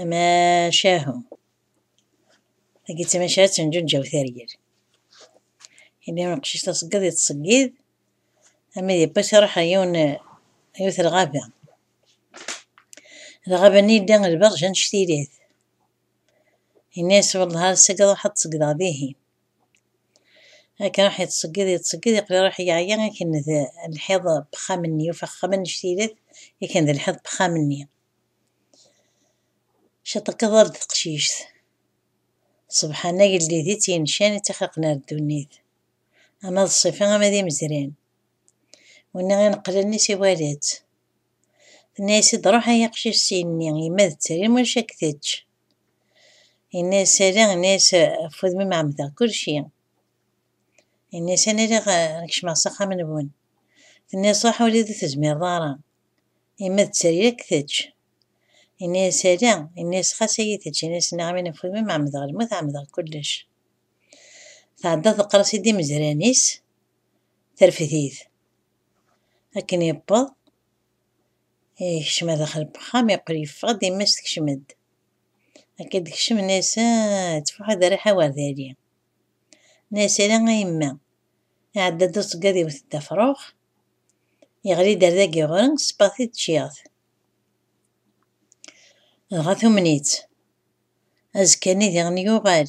Amacahu. Agi d tamacahut n Ǧunǧaw Targir. Imi amqcic taṣeggeḍ yettṣeggid, ama d ipas iruḥ ar yiwen yiwet lɣaba. Lɣaba-nni yedda lberǧ annect-ilat. Yenna-yas wallah ar sagi ruḥ ad tṣeggdeḍ dihin. akken raḥ yettṣeggid yettṣeggid yeqli raḥ yeɛya akken d lḥiḍ bxam-nni yufa axxam annect-ilat akken d lḥiḍ bxam-nni ciṭekeḍ-d teqcict ṣebḥan agellid i tt-yencan i tt-ixlaqen ar ddunit ama d ṣṣifa ama d imezran winna ineqlen i s-iwala-tt tenna-yas-id ruḥ ay aqcic s-yenni yemma d tterim ulac ak tečč Yenna-yas, ala, yenna-yas, ɣef wudem-im ɛemmdeɣ kulci. Yenna-yas, ana riɣ ad kecmeɣ s axxam-nwen. Tenna-yas, ruḥ ur d tezmireḍ ara, yemma d tteryel ad k-tečč. Yenna-yas, ala, yenna-yas, xas ad iyi-tečč, yenna-yas, nniɣ-am ini ɣef wudem-im ɛemmdeɣ lmut, ɛemmdeɣ kullec. Tɛedda teqqar-as-id i imezran-is, terfed-it. Akken yewweḍ. Yekcem ar daxel n wexxam, yeqqel yeffeɣ-d, yemma-s tekcem-d. Akka d-tekcem Nasa, tfuḥ aderriḥ awerdali. Nasa, a yemma! Iɛedda-d uṣeggad iwet-d afrux, yeɣli-d ar dagi ɣur-i, sebɣet-it ččiɣ-t. Dɣa tumen-itt. Azekka-nni diɣen yuɣal.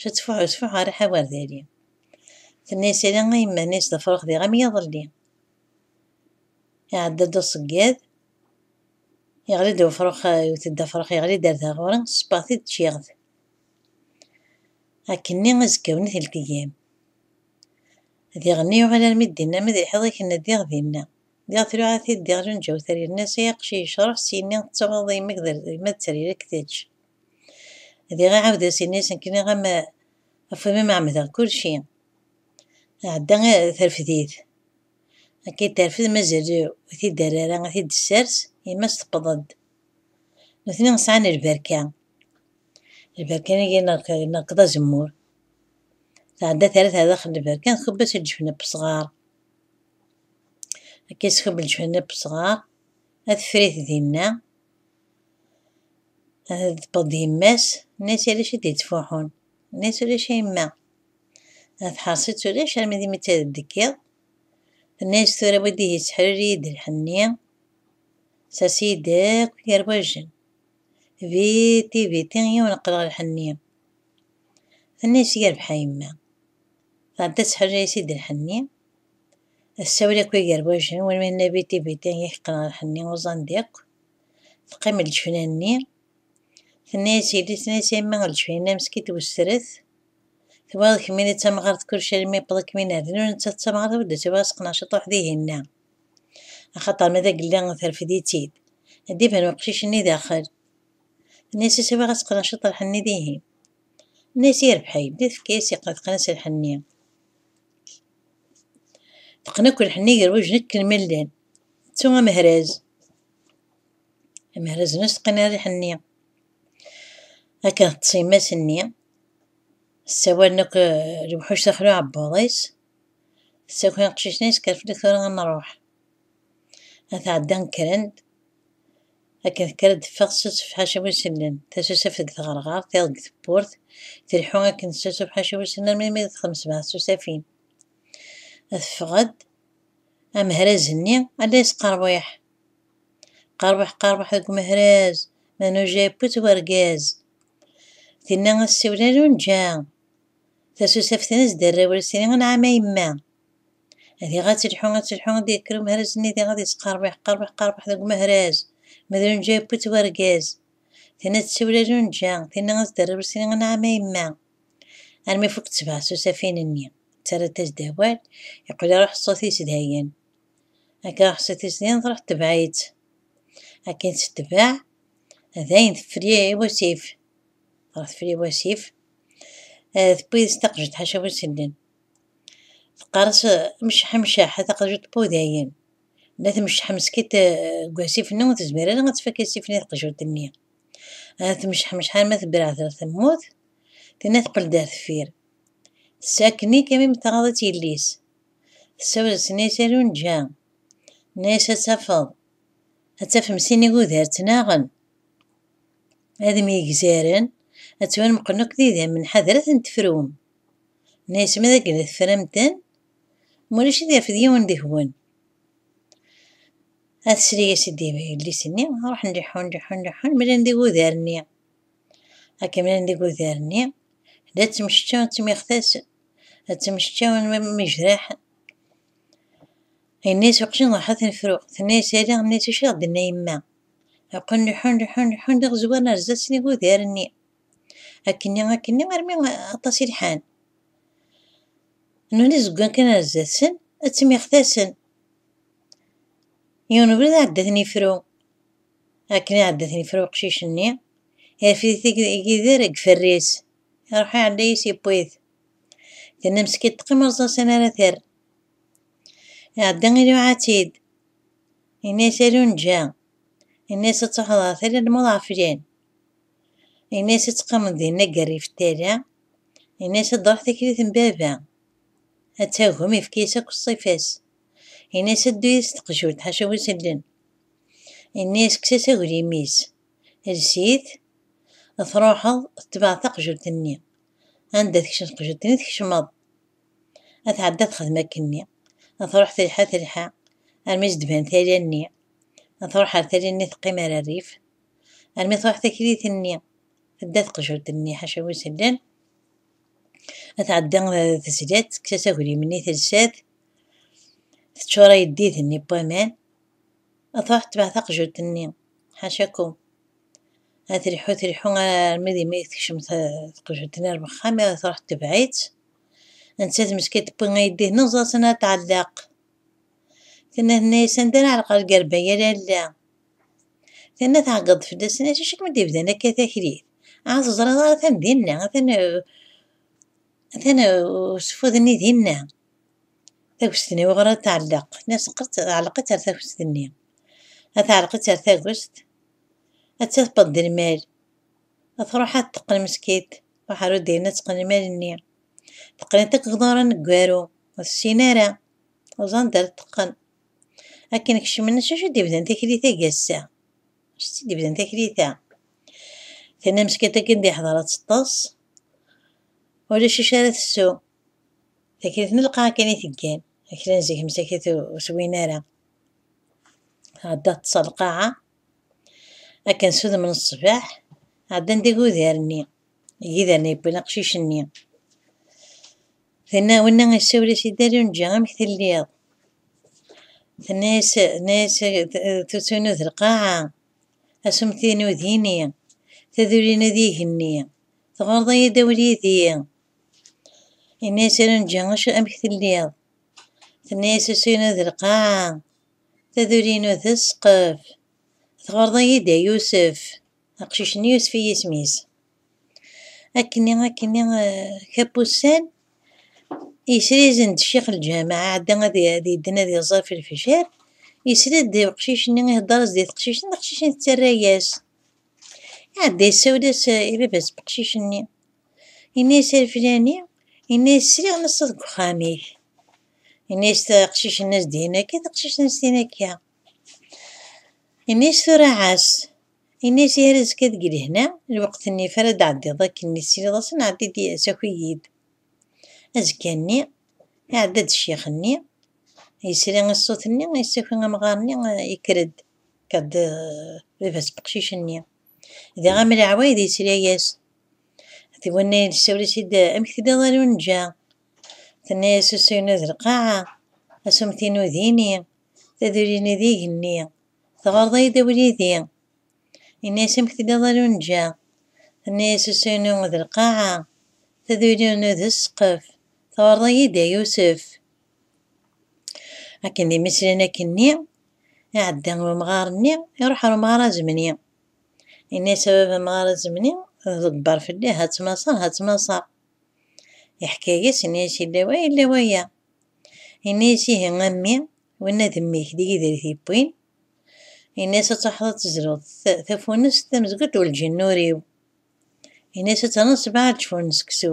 Cettfuḥ ucfuḥ ɣer iḥawer diri. Tenna isiri a yemma-nni sdefreɣ diɣ am yiḍelli. Iɛedda-d uṣeggad, yeɣli-d ufrux, iwet-d afrux, yeɣli-d ar da ɣur-i, ṣebbaɣ-t-id ččiɣ-t. Akkenni azekkawen i teltegam. Diɣenni yuɣal armi d dinna, ma d lḥiḍ i kenna diɣ dinna. Diɣ tluɛa-t-id diɣ junǧawet ar yerna-as ay aqcic, ruḥ syenni, tettawḍeḍ yemma-k d yemma d trirek tečč. Diɣ iɛawed-as ini-as nekkni am ɣef wimi ma ɛemmdeɣ kulci. Ɛedda terfed-it. Akka i terfed mazal ur t-id-terri ara ad t-id-tessers, yemma-s tewweḍ-d. Nutni sɛan lberka. Lberka-nni ineṛkeḍ azemmur. Tɛedda terra-t ɣer daxel n lberka, txubb-as lǧefn n wesɣaṛ. Akka i s-txubb lǧefn n wesɣaṛ, ad teffer-it dinna. Ad teṭṭeḍ d yemma-s, nnan-as ulac i d-yettfuḥun, nnan-as ulac a yemma. Ad teḥreṣ-itt ulac armi d imi d tadelt deg yiḍ, tenna-as tura wid ihi sseḥrir-iyi-d lḥenni, sers-iyi-d akk yerwajen, viti viti yiwen qqleɣ lḥenni. Tenna-as yerbeḥ a yemma, tɛedda tesseḥrir-as-id lḥenni, tessawel akk i yerwajen, win ma yenna viti viti yak qqleɣ lḥenni uẓan-d akk. teqqim leǧfina-nni, tenna-yas yelli, tenna-yas yemma leǧfina meskin twesret, tebɣiḍ kemmini d tamɣart kullec almi yewweḍ akken min rnu netta d tamɣart ur d-tebɣi aseqneɛ ciṭuḥ dihin-a, axaṭer ma d agella terfed-itt-id, ad d-iban weqcic-nni daxel. Tenna-yas a siwaɣ aseqneɛ ciṭuḥ-nni dihin. Tenna-yas yerbeḥ a yelli, tefka-yas iqqa teqqen-as lḥenni. Teqqen akk lḥenni gar wajen akken ma llan. Ttu amehraz. Amehraz n useqnariḥ-nni. Akken teṭṭes yemma-s-nni, ssawalen akk eh, lewḥuc s axlu aɛebbuḍ-is, tessaki aqcic-nni yeskerfel-ik tura ad nruḥ. Ad tɛedda kkren-d, akken tekker ad d-teffeɣ tessusef ḥaca wis illen, tasusaf deg tɣerɣert, iḍ deg tewwurt, tleḥḥu akken tessusuf ḥaca wis illen armi mi d-texdem sebɛa tsusafin. Ad teffeɣ-d, Amehraz-nni a la yesqerwiḥ. Qerwiḥ qerwiḥ deg umehraz, ma nuja yewwi-t wergaz. Tinna a ssiwel a lunǧa, tasusaft-nni a s-d-rrew lsin anɛam a yemma. Diɣ a telḥu a telḥu ad yekker umehraz-nni diɣ ad yesqerwiḥ qerwiḥ qerwiḥ deg umehraz, ma d lunǧa yewwi-t wergaz. Tinna a tsiwel a lunǧa, tinna a s-d-rrew lsin anɛam a yemma. armi fukkent sebɛa s usafin-nni. Ttarrant-as-d awal, yeqqel iruḥ ṣṣut-is dayen. Akken iruḥ ṣṣut-is dayen, truḥ tebɛit. Akken tettbeɛ, dayen tefri wasif. Truḥ tefri wasif, eh, tewwi-as taqejjiṭ ḥaca bu sellen. Teqqar-as, mceḥ, mceḥ, a taqejjiṭ bu dayen. Ma tmecceḥ meskint eh, deg wasif-nni ur tezmir ara ad tfak asif-nni taqejjiṭ-nni. Ad tmecḥemceḥ arma tebreɛd ɣer temmurt, tinna teqqel-d ar teffir. Tess akken-ik imi mteɣaḍ-itt yelli-s. Tessawel s nni-s a Lunǧa. Nni-s ad tafeḍ, ad tafem sin igudar ttnaɣen. Ad myegzaren, ad ttwanmeqlen akk d idammen, ḥader ad ten-tefrum. Nni-s ma d akken tefram-ten, ma ulac ad yafed yiwen deg-wen. Ad sliges i d-iba yellis-nni, ruḥen leḥḥun, leḥḥun, leḥḥun, mlan deg udar-nni. Akken mlan deg udar-nni, la ttemceččawen, ttemixtasen, la ttemceččawen mejraḥ. Yenna-yas uqjun ruḥ ad ten-fruɣ, tenna-yas ala, yenna-yas acu i d-tenna yemma. Aqun leḥḥun, leḥḥun, leḥḥun, d iɣezwanen ar zdat snig udar-nni. Akkenni, akkenni, armi aṭas i lḥan. Nuni zeggan kan ar zdat-sen, ad ttemixtasen. Yiwen n ubrid iɛedda ten ifru, akken iɛedda ten ifru uqcic-nni, irfed-it Yidir deg iferri-s, iruḥ iɛedda-yas yewwi-t. Tenna meskint teqqim ur ẓẓasen ara terr. Iɛedda iluɛa-tt-id, yenna-yas a Lunǧa, yenna-yas ad truḥeḍ ɣer tala n lmut ɣef lin. Yenna-yas ad teqqimeḍ dinna deg rrif n tala, yenna-yas ad d-truḥ tikli-s n baba, ad tagem, yefka-yas akk ṣṣifa-s. Ini-as ad ddu yid-s teqjult, ḥaca win s-illen. Ini-as kkes-as aglim-is, els-it, truḥeḍ tetbeɛ taqjult-nni. Anda tekcem teqjult-nni tkecmeḍ. A tɛedda texdem akkenni. A truḥ telḥa telḥa armi s-d-ban tala-nni. A truḥ ar tala-nni teqqim ar rrif armi truḥ taklit-nni. Tedda teqjult-nni ḥaca win s-illen. A tɛedda tezla-tt, kkes-as aglim-nni telsa-t. Teččur ayeddid-nni n waman, ad truḥ tetbeɛ taqjult-nni, ḥacakum. Ad triḥu triḥu armi d imi tekcem taqjult-nni ar wexxam, ad truḥ tetbeɛ-itt. Nettat meskin tewwi ayeddid-nni uẓaẓen ad tɛelleq. Tenna tenna-as anda ara ɛelqeɣ lgerba ya lalla. Tenna tɛeggeḍ fell-as, tenna acu kem d-ibdan akka taklit? Ahat ur teẓriḍ ara atan dinna, atan atan useffud-nni dinna. Tagest-nni wuɣur ad tɛelleq? Ɛelleq-itt ar tagest-nni. Ad tɛelleq-itt ar tagest, ad tafeḍ d lmal. Ad truḥ ad teqqen meskint, truḥ ar udaynin ad teqqen lmal-nni. Teqqen-it akk gḍur aneggaru, ur tessin ara, ur teẓri anda ara t-teqqen. Akken kecmen, s wacu d-ibdan taklit-agi ass-a? S wacu d-ibdan taklit-a? Tenna meskint akken d-yeḥḍer ad teṭṭes, ulac acu ara tessu, Takrit n lqaɛ kan i teggan, akli n zik msakit ur swin ara. Ɛedda ṭṭṣa lqaɛa, akken s udem n ṣṣbeḥ, ɛeddan-d igudar-nni, igidar-nni yewwin aqcic-nni. Tenna, winna isawel-as i Dda Lunǧa, amek telliḍ? Tenna-yas, tenna-yas tuttu-inu d lqaɛa, asumti-inu d ini, taduli-inu d igenni, tɣurḍeḍ-iyi-d a wul yid-i. Yenna-yas i Renǧi, acu amek telliḍ? Tenna-yas usu-inu d lqaɛa, taduli-inu d ssqef. Tɣurḍeḍ-iyi-d a Yusef. Aqcic-nni Yusef i yisem-is. Akkenni, akkenni, kap ussan, yesrizen-d ccix lǧama, iɛedda ad yedden ad iẓer fi lefjer, yesred-d uqcic-nni ihedder-as di teqcict, d aqcic-nni tettarra-yas. Iɛedda yessawel-as i baba-s beqcic-nni. Yenna-yas i lfilani, yenna-yas sriɣ neṣṣeḍ deg uxxam-ik. Yenna-yas taqcic-nni as d-yenna akka, taqcic-nni as d-yenna akka. Yenna-yas tura ɛas. Yenna-yas yar azekka deg lehna, lweqt-nni ifar ad d-ɛeddiḍ akken mi tesliḍ asen, ɛeddi-d saki-yi-d. Azekka-nni, iɛedda-d ccix-nni, yesri i ṣṣut-nni, yessaki amɣar-nni, yekker-d, yekker-d d baba-s n uqcic-nni. Di am leɛwayed yetla-yas. D winna yessawel-as-id amek telliḍ a Lunǧa? Tenna-yas usu-inu d lqaɛa, asummet-inu d ini, taduli-inu d igenni, teɣreḍ-iyi-d abrid-i? Yenna-yas amek telliḍ a Lunǧa? Tenna-yas usu-inu d lqaɛa, taduli-inu d ssqef, teɣreḍ-iyi-d a Yusef? Akken d imislen akkenni, iɛedda umɣar-nni, iruḥ ɣer umɣar azemni. Yenna-as a baba amɣar azemni, tḍebber fell-i, ha ttnaṣaṛ, ha ttnaṣaṛ. Yeḥka-as, yenna-as yella wa, yella waya. Yenna-as ihi a mmi, winna d mmi-k, d yid ar t-yewwin. Yenna-as ad truḥeḍ ad tezluḍ tafunest tamezgut ur lǧin ur-iw. Yenna-as ad ternuḍ sebɛa leǧfun n seksu.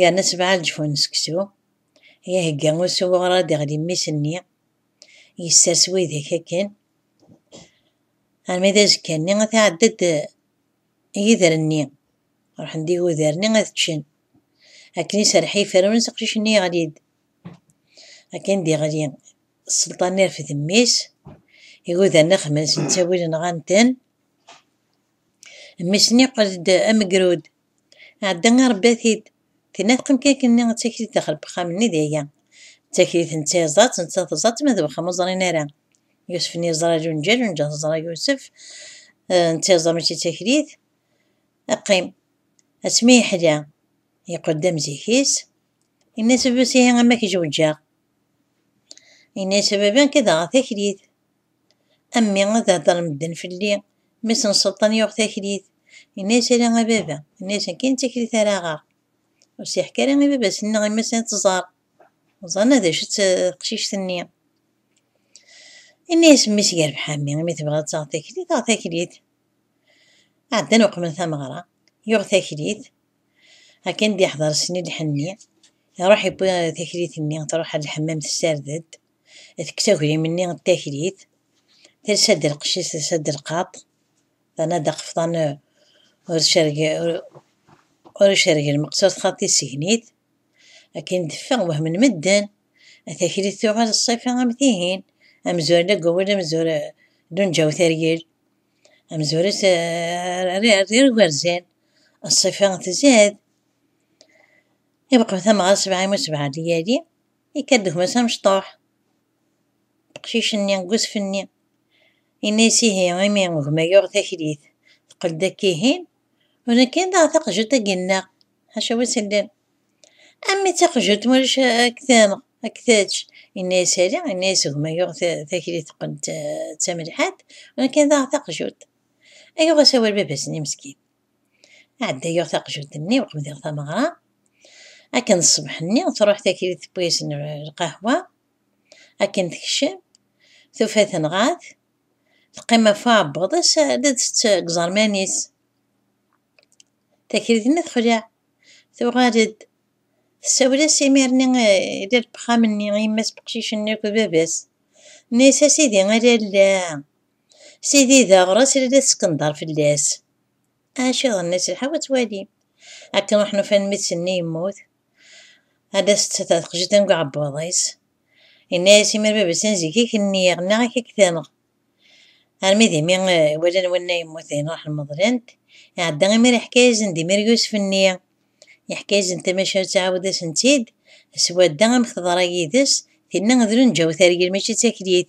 Yerna sebɛa leǧfu n seksu i ihegga usuɣu ɣer ad iɣli mmis-nni, yessers widak akken armi d azekka-nni ad tɛedda-d yider-nni, ruḥen-d igudar-nni ad ččen. Akken iserreḥ yiferrun-is, aqcic-nni yeɣli-d. Akken d-iɣli sselṭan-nni rfed mmi-s, igudar-nni xemmen-sen ttawilen nɣan-ten. Mmi-s niqel-d amegrud. Ɛedda a rebbi a t-id. Tenna teqqim-k akken-nni d taklit daxel wexxam-nni d aya. D taklit n tyaẓatt netta teẓatt ma d wexxam ur ẓrin ara. Yusef nni yeẓra lunǧa lunǧa teẓra Yusef n tyaẓa mačči d taklit. Qqim. Asmi yeḥla yeqqel-d am zik-is. Yenna-as baba-s ihi ama k-jewǧaɣ. Yenna-as a baba nekk ad aɣeɣ taklit. A mmi, ad heddren medden fell-i. Mmi-s n Selṭan yuɣ taklit, yenna-as, Ala a baba, ini-as akken d taklit ara aɣeɣ. Ur s-yeḥka ara i baba-s neɣ i mmi-s ad tẓer. Ẓerna d acu-tt teqcict-nni. Yenna-as mmi-s yerbeḥ a mmi, imi tebɣiḍ ad taɣeḍ taklit, aɣ taklit. Ɛeddan uqmen tameɣra, yuɣ taklit, akken d-yeḥḍer sni lḥenni, iruḥ yewwi taklit-nni, truḥ ar lḥemmam tessared-d. Tekkes aglim-nni n taklit, telsa-d lqecc-is, telsa-d lqaṭ, terna d aqefḍan ur icerreg lmeqsert xaṭ isegen-it. Akken d-teffeɣ wehmen medden, taklit tuɣal ṣṣifa am tihin, amzur la yewwel amzur Lunǧa Uteryel, amzur-is rrir ugerzen, ṣṣifa tzad. Ibeqqem tamɣart sebɛa u sebɛa lyali. Yekka-d gma-s amecṭuḥ, teqcic-nni deg usfenni. Yenna-yas ihi, imi gma yuɣ taklit, teqqel-d akka ihin, u nekk ad aɣ taqjut ad yennaɣ, ḥaca wi s-illan. A mmi taqjut ma ulac ad k-tanɣ, ad k-tečč. Yenna-yas ali, yenna-yas gma yuɣ taklit teqqel d tamelḥant, u nekk ad aɣ taqjut. Yuɣ-as awal baba-s-nni meskin. ɛeddayeɣ taqjunt-nni u qebdiɣ tameɣra. Akken d ṣṣbeḥ-nni, truḥ taklit tewwi-as lqahwa. Akken tekcem, tufa tenɣa-t. Teqqim ɣef uɛebbuḍ-is, la d-tett deg iẓerman-is. Taklit-nni texleɛ. Tuɣal-d, tessawel-as imir-nni i lal n wexxam-nni, i yemma-s n weqcic-nni akked baba-s. Tenna-as, A sidi, a lalla! Sidi d aɣras i la teskenḍar fell-as. Acu d nnas lḥaw ad twalim. Akken ruḥen ufan mmi-tsen-nni yemmut. Ad as-d-tata teqjiṭ deg uɛebbuḍ-is. Yenna-as imir baba-tsen zik i k-nniɣ, nniɣ ak ak tenɣ. Armi d imi walan wanna yemmut dayen ruḥen meḍlen-t. Iɛedda imir iḥka-asen-d imir Yusef-nni. Iḥka-asen-d tamacahut iɛawed-asen-tt-id. Swadda amek teḍra yid-s, tinna d lunǧa utergel mačči d taklit.